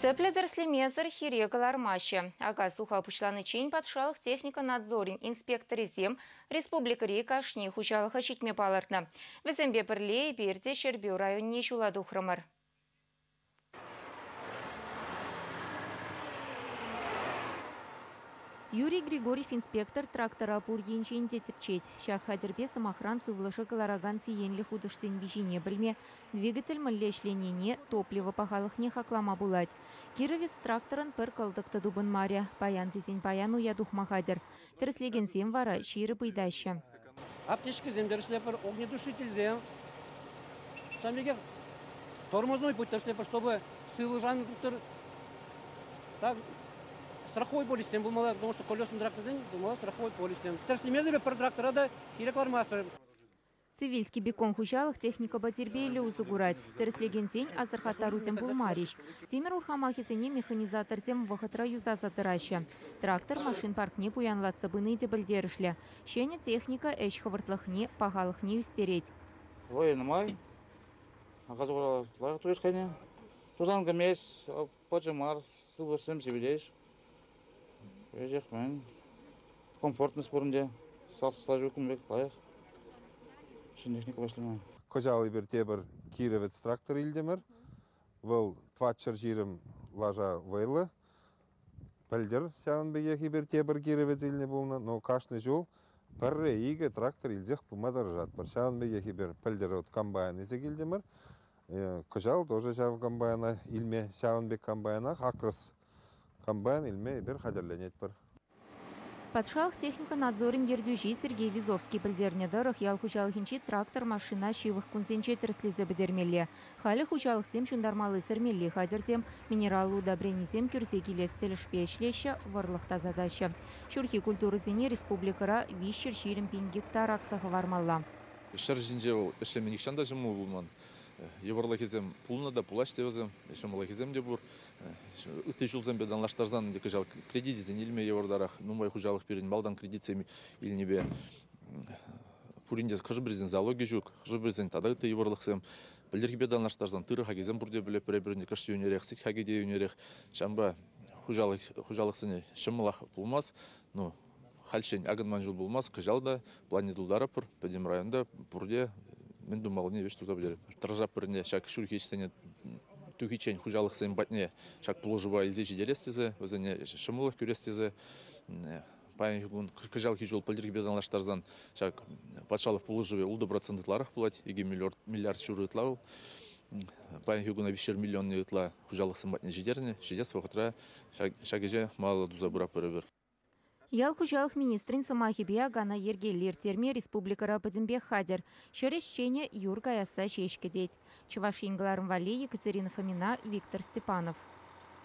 Тӗплӗ тӗрӗслемесӗр хире кӑлармаҫҫӗ. Ака-суха пуҫланиччен патшалӑх техника надзорӗн инспекторӗсем республикӑри кашни хуҫалӑха ҫитме палӑртнӑ. Вӗсемпе пӗрле эпир те Ҫӗрпӳ районне ҫула тухрӑмӑр. Юрий Григорьев инспектор трактора пур енчен те тӗпчет. Ҫак хатӗрпе, сӑмахран, сывлӑша кӑларакан сиенлӗ хутӑшсен виҫине пӗлме, Двигатель мӗнле ӗҫленине, топливо пахалӑхне хаклама пулать. Кировец тракторӑн пӗр кӑлтӑк та тупӑнмарӗ, паян тесен паян уя тухма хатӗр. Тӗрӗслекенсем вара ҫирӗп ыйтаҫҫӗ. Аптечкӑсем тӗрӗслетпӗр, огнетушительсем, ҫавӑн пекех тормозной путь тӗрӗслетпӗр, чтобы сывлӑшан тухтӑр так, страховой полисем пулмалла, потому что колесный тракторсен пулмалла страховой полисем. Тӗрӗслемесӗр пӗр трактора та хире кӑлармастпӑр. Цивильский бекон хуҫалӑх техникӑпа тирпейлӗ усӑ курать. Тӗрӗслекенсен асӑрхаттарусем пулмарӗҫ. Тимӗр урхамахӗсене механизаторсем вӑхӑтра юсаса тӑраҫҫӗ. Трактор машин паркне пуянлатса пыни те пӗлтерӗшлӗ. Ҫӗнӗ техника ӗҫ хӑвӑртлӑхне, пахалӑхне ӳстерет. Вӑйӑ нумай. Газовая лайӑх турӗҫ хӑйне. Тусан кӗмест. пӑчӑ мар, сыпӑшсем сипӗтеҫ. Кӗҫех мӗн, комфортность пурӑнчӗ. Сас-слажу кун пек лайӑх. Ҫӗнӗ вӗҫлемен. Кӑҫал эпир тепӗр Кировец трактор илтӗмӗр. Вӑл Тваччӑр ҫирӗм лаша вӑйлӑ. Пӗлтӗр ҫавӑн пекех эпир тепӗр Кировец илнӗ пулнӑ, но кашни ҫул пӗрре икӗ трактор илсех пыма тӑрӑшатпӑр. Ҫавӑн пекех эпир пӗлтӗр вот комбайн илсе килтӗмӗр. Кӑҫал тоже ҫав комбайна илме, ҫавӑн пек комбайнах Акрос комбайн илме эпир хатӗрленетпӗр. Патшалӑх техника надзорӗн ертӳҫи Сергей Визовский пӗлтернӗ тӑрӑх, ял хуҫалӑхӗнчи трактор-машина ҫывӑх кунсенче тӗрӗслесе пӗтермелле. Халӗ хуҫалӑхсем ҫунтармалли-сӗрмелли хатӗрсем, минераллӑ удобренисем кӳрсе килес тӗлӗшпе ӗҫлеҫҫӗ, вӑрлӑх тасатаҫҫӗ. Ҫурхи культурӑсене республикӑра виҫҫӗр ҫирӗм пин гектар акса хӑвармалла. Ҫӗр ҫинче вӑл ӗҫлеме нихҫан та ҫӑмӑл пулман. Йывӑрлӑхӗсем пулнӑ та пулаҫ те вӗсем, ҫӑмӑллӑхӗсем те пур. Ытти ҫулсемпе танлаштарсан ӗнтӗ кӑҫал кредитӗсен илме йывӑртарах. Нумай хуҫалӑх пирӗн малтан кредитсем илнипе пурин те хӑшӗ-пӗрисен залогӗ ҫук, хӑшӗ-пӗрисен тата ытти йывӑрлӑхсем. Пӗлтӗрхипе танлаштарсан тырӑ хакӗсем пурте пӗр-пӗрин кӑшт йӳнерех, сӗт хакӗ те йӳнерех. Ҫавӑнпа хуҫалӑхсене ҫӑмӑлах пулмасть. Ну, Хальччен акӑн ман ҫул пулмасть, кӑҫал та планне тултаратпӑр. Пӗтӗм районта пурте мӗн тумаллине ӗҫ туса пӗтеретпӗр. Тӑрса пӗрне ҫак ҫурхи ӗҫсене тухиччен хуҫалӑхсем патне ҫак пулӑшӑва илсе ҫитерес тесе, вӗсене ҫӑмӑллӑх кӳрес тесе паянхи кун кӑҫалхи ҫул пӗлтӗрхипе танлаштарсан ҫак патшалӑх пулӑшӑвӗ ултӑ процент ытларах пулать, икӗ миллиард ҫурӑ ытла вӑл. Паянхи куна виҫшер миллионни ытла хуҫалӑхсем патне ҫитернӗ. Ҫитес вӑхӑтра ҫак ӗҫе малалла туса пыратпӑр эпир. Ял хуҫалӑх министрӗн сӑмахӗпе, акана йӗркеллӗ ирттерме республикӑра пӗтӗмпех хатӗр. Ҫӗр ӗҫченӗ юр каясса ҫеҫ кӗтет. Чӑваш Ен кӑларӑм валли Екатерина Фомина, Виктор Степанов.